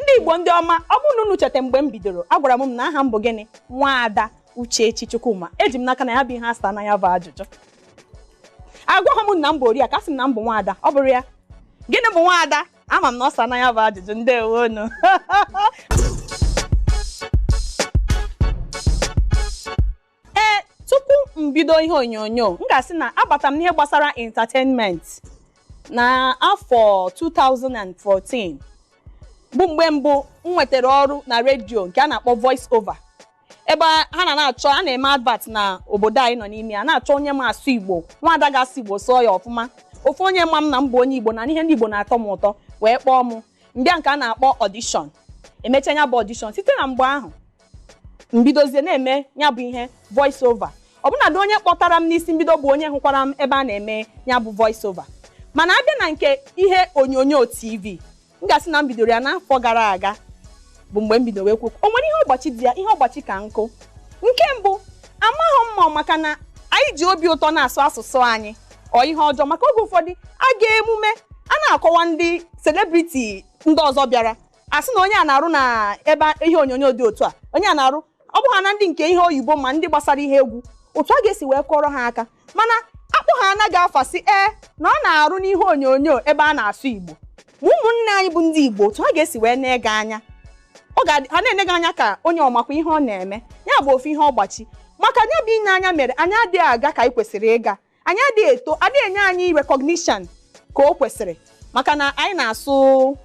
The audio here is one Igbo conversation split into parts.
ndị igbo ndị ọma ọ bụrụ na unu cheta mgbe m bidoro agwara m na aha m bụ gịnị nwaada uchechi chukwuma eji m n'aka na ya bụ ihe asaana ya bụ ajụjụ agwaghị m unu na m bụ oriakụ asị m na m bụ nwaada ọ bụrụ ya gịnị bụ nwaada ama m na ọ saana ya bụ ajụjụ ndewonu ee tupu m bido ihe onyonyo m ga-asị na abata m n'ihe gbasara entertainment na afọ 2014 bụ mgbe mbụ m nwetara ọrụ na redio nke a na-akpọ voice over ebe a- ha na na-achọ a na-eme advert na obodo anyị nọ n'ime ya na-achọ onye ma asụ igbo nwaada ga-asụ igbo sụọ ya ọfụma ofu onye ma m na m bụ onye igbo na ihe ndị igbo na-atọ m ụtọ wee kpọọ m m bịa nke a na-akpọ audition emecha ya bụ audition site na mgbe ahụ m bidozie na-eme ya bụ ihe voice over ọbụnadị onye kpọtara m n'isi mbido bụ onye hụkwara m ebe a na-eme ya bụ voice over mana a bịa na nke ihe onyonyo tv m ga-asị na m bidoro ya n'afọ gara aga bụ mgbe m bidoro ekwu o nwere ihe ọgbachi dị ya ihe ọgbachi ka nkụ nke mbụ amaghị m ma maka na anyị ji obi ụtọ na-asụ asụsụ anyị ọ ihe ọjọọ maka oge ụfọdụ a ga emume a na-akọwa ndị selebriti ndị ọzọ bịara a sị na onye a na-arụ na ebe ihe onyonyo dị otu a onye a na-arụ ọ bụ ha na ndị nke ihe oyibo ma ndị gbasara ihe egwu otu a ga-esi wee kọrọ ha aka mana a kpọhana gị afa sị ee na ọ na-arụ n'ihe onyonyo ebe a na-asụ igbo ma ụmụnne anyị bụ ndị igbo otu ha ga-esi wee nee gị anya ọ ga ha na-ene gị anya ka onye ọ makwa ihe ọ na-eme ya bụ ofu ihe ọgbachi maka nya bụ ine anya mere anyị adịghị aga ka anyị kwesịrị ịga anyị adịghị eto adịghị enye anyị recognition ka o kwesịrị maka na anyị na-asụ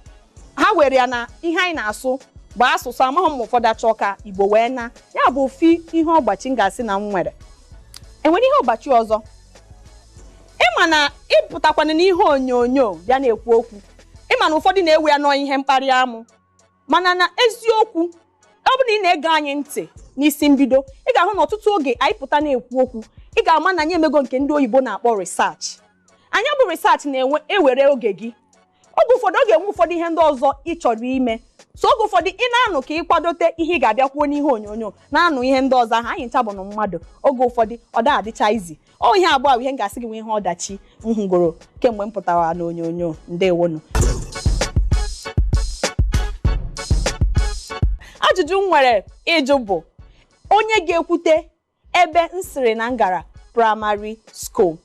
ha were ya na ihe anyị na-asụ bụ asụsụ amaghị m ma ụfọdụ achọ ka igbo wee naa ya bụ ofu ihe ọgbachi m ga-asị na m nwere enwere ihe ọgbachi ọzọ ị ma na ị pụtakwana n'ihe onyonyo bịa na-ekwu okwu ị ma na ụfọdụ na-ewe ya na ọ ihe mkparị amụ mana na eziokwu ọ bụrụ na ị na-ege anyị ntị n'isi mbido ị ga-ahụ na ọtụtụ oge anyị pụta na-ekwu okwu ị ga-ama na anyị emego nke ndị oyibo na-akpọ research nya bụ research na-enwe ewere oge gị oge ụfọdụ ọ ga-enwe ụfọdụ ihe ndị ọzọ ị chọrọ ime so oge ụfọdụ ị na-anụ ka ị kwadote ihe ị ga-abịa kwuo n'ihe onyonyo na-anụ ihe ndị ọzọ ahụ anyị ncha bụnụ mmadụ oge ụfọdụ ọ da-adịcha easy ọ ihe abụọ bụ ihe m ga-asị gị nwe ihe ọdachi m hụgoro kemgbe m pụtara n'onyonyo ndewonu ajụjụ m nwere ịjụ bụ onye ga-ekwute ebe m sịrị na m gara primary school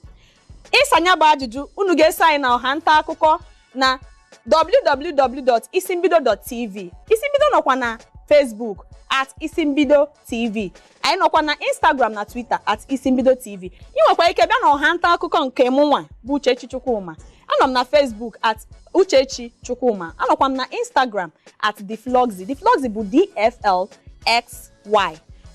ịsa nya bụ ajụjụ unu ga-eso anyị na ọha nta akụkọ na www.isimbido.tv isimbido nọkwa na Facebook at isimbido tv anyị nọkwa na instagram na twitter at isimbido tv i nwekwa ike bịa na ọha nta akụkọ nke mụ nwa bụ uchechi chukwuma anọ m na facebook at uchechi chukwuma anọkwa m na instagram at defloxy defloxy bụ dflxy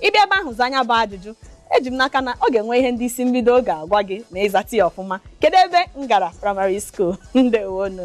ị bịa ebe ahụ zaa nya bụ ajụjụ eji m n'aka na ọ ga-enwe ihe ndị isi mbido ga-agwa gị ma ị zata ya ọfụma kedu ebe m gara primary school ndewonu